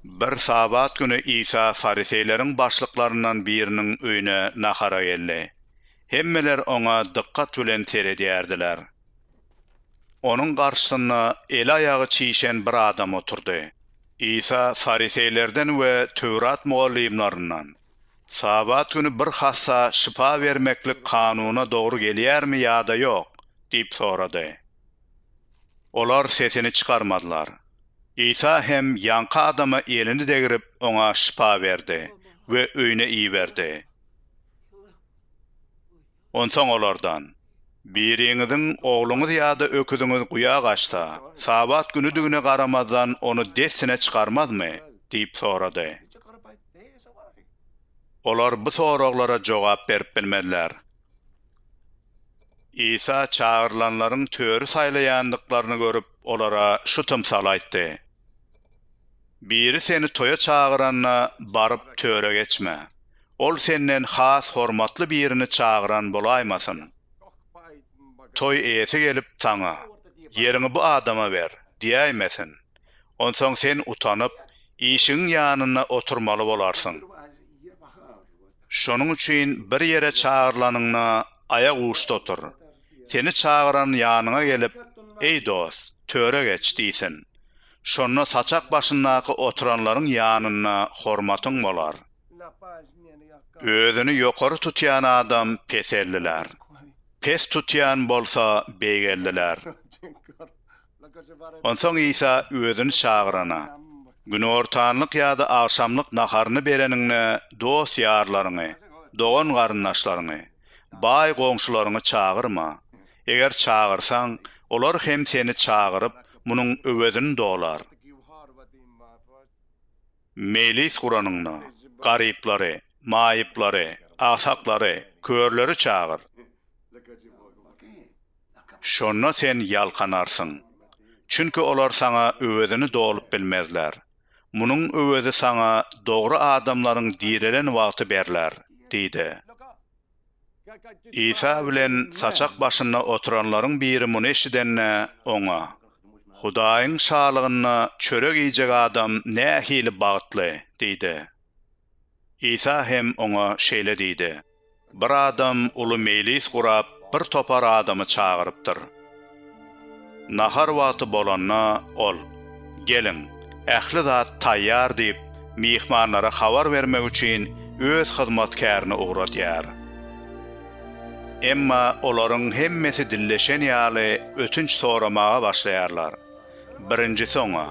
Bir Sabat güni Isa fariseýleriň başlyklaryndan biriniň öýüne nahara geldi. Hemmeler oňa dykgat bilen seredýärdiler. Onuň garşysynda eli-aýagy çişen bir adam oturdy. Isa fariseýlerden we Töwrat mugallymlaryndan, Sabat güni bir hassa şypa bermeklik kanuna dogry gelýärmi ýa-da ýok? diýip sorady. Olar sesini çykarmadylar. Isa hem ýaňky adama elini degrip, oňa şypa berdi we öýüne iberdi. Onsoň olardan, Biriňiziň ogluňyz ýa-da öküziňiz guýa gaçsa, Sabat günüdigine garamazdan, ony dessine çykarmazmy? diýip sorady. Olar bu soraglara jogap berip bilmediler. Isa çagyrylanlaryň töri saýlaýandyklaryny görüp, olara şu tymsaly aýtdy, Biri seni toýa çagyranda, baryp, töre geçme. Ol senden has hormatly birini çagyran bolaýmasyn. Toý eýesi gelip, saňa, Ýeriňi bu adama ber! diýäýmesin. Onsoň sen utanyp, işigiň ýanynda oturmaly bolarsyň. Şonuň üçin bir ýere çagyrlanyňda aýak uçda otur. Seni çagyran ýanyňa gelip, Eý dost, töre geç! diýsin. Şonda saçak başyndaky oturanlaryň ýanynda hormatyň bolar. Özüni ýokary tutýan adam peseldiler. Pes tutýan bolsa beýgeldiler. Onsoň Isa özüni çagyrana, Günortanlyk ýa-da agşamlyk naharyny bereniňde dost-ýarlaryňy, dogan-garyndaşlaryňy, baý goňşularyňy çagyrma. Eger çagyrsaň, olar hem seni çagyryp, munuň öwezini dolar. Mejlis guranyňda, garyplary, maýyplary, agsaklary, körleri çagyr. Şonda sen ýalkanarsyň. Çünki olar saňa öwezini dolup bilmezler. Munuň öwezi saňa dogry adamlaryň direlen wagty berler, diýdi. Isa bilen saçak başynda oturanlaryň biri muny eşidende, Oňa, Hudaýyň Şalygynda çörek iýjek adam nähili bagtly! diýdi. Isa hem oňa şeýle diýdi, Bir adam uly meýlis gurap, bir topar adamy çagyrypdyr. Nahar wagty bolanda ol, Geliň, ähli zat taýýar diýip, myhmanlara habar bermek üçin öz hyzmatkärini ugradýar. Emma olaryň hemmesi dilleşen ýaly ötünç soramaga başlaýarlar. Birinjisi oňa,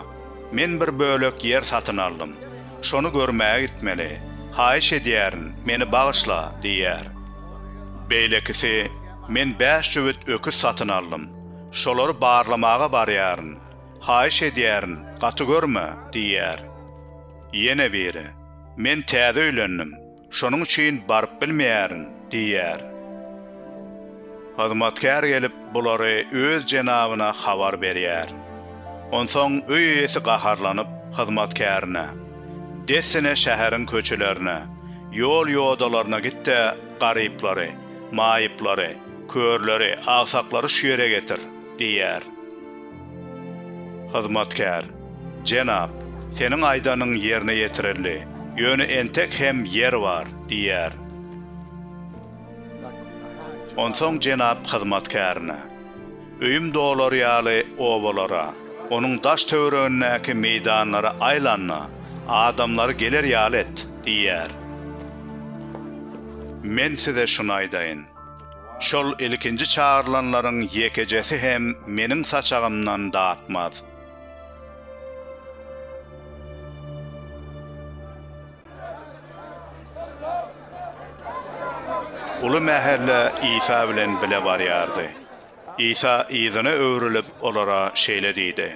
Men bir bölek ýer satyn aldym. Şony görmäge gitmeli. Haýyş edýärin, meni bagyşla! diýýär. Beýlekisi, Men bäş jübüt öküz satyn aldym. Şolary barlamaga barýaryn. Haýyş edýärin, gaty görme! diýýär. Ýene biri, Men täze öýlendim. Şonuň üçin baryp bilmeýärin diýýär. Hyzmatkär gelip, bulary öz jenabyna habar berýär. Onsoň öý eýesi gaharlanyp, hyzmatkärine, Dessine şäheriň köçelerine, ýol-ýodalaryna git-de, garyplary, maýyplary, körleri, agsaklary şu ýere getir! diýýär. Hyzmatkär, Jenap, seniň aýdanyň ýerine ýetirildi, ýöne entek hem ýer bar, diýýär. Onsoň jenap hyzmatkärine, Öýüm dolar ýaly obalara, onuň daş-töweregindäki meýdanlara aýlan-da, adamlary geler ýaly et, diýýär. Men size şuny aýdaýyn, Şol ilkinji çagyrylanlaryň ýekejesi hem meniň saçagymdan datmaz. Uly mähelle Isa bilen bile barýardy. Isa yzyna öwrülip, olara şeýle diýdi,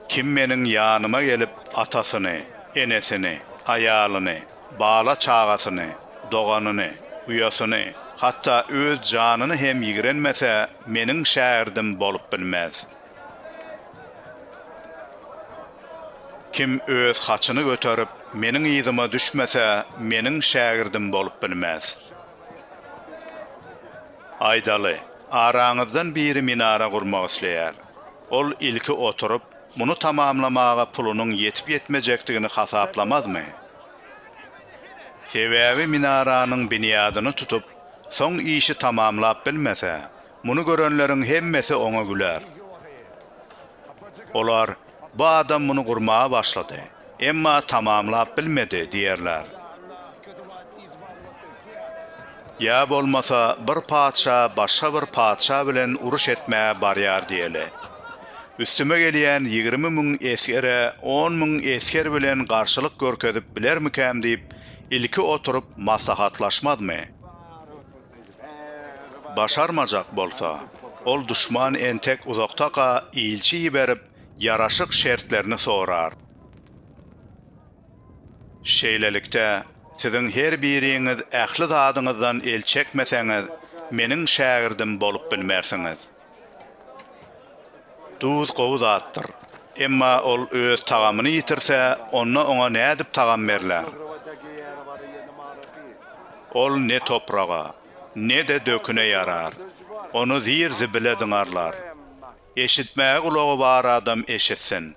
Kim Meniň ýanyma gelip, atasyny, enesini, aýalyny, Bala-çagasyny, doganyny, uýasyny, hatda öz janyny hem ýigrenmese, meniň şägirdim bolup bilmez. Kim öz haçyny göterip, meniň yzyma düşmese, meniň şägirdim bolup bilmez. Aýdaly, araňyzdan biri minara gurmak isleýär. Ol ilki oturyp, Muny tamamlamaga pulunyň ýetip-ýetmejekdigini hasaplamazmy? Sebäbi minaranyň binýadyny tutup, soň işi tamamlap bilmese, muny görenleriň hemmesi oňa güler. Olar, Bu adam muny gurmaga başlady. Emma tamamlap bilmedi diýerler. Ýa bolmasa bir patyşa başga bir patyşa bilen uruş etmä barýar diýeli. Üstüme gelýän ýigrimi müň esgere on müň esger bilen garşylyk görkezip bilermikäm diýip ilki oturyp maslahatlaşmazmy? Başarmajak bolsa, ol duşman entek uzakdaka ilçi iberip ýaraşyk şertlerini sorar. Şeýlelikde, siziň her biriňiz ähli zadyňyzdan el çekmeseňiz, Meniň şägirdim bolup bilmersiňiz. Duz gowy zatdyr. Emma ol öz tagamyny ýitirse, onda oňa nädip tagam berler? Ol ne topraga, ne-de döküne ýarar. Ony zir-zibile zyňarlar. Eşitmäge gulagy bar adam eşitsin.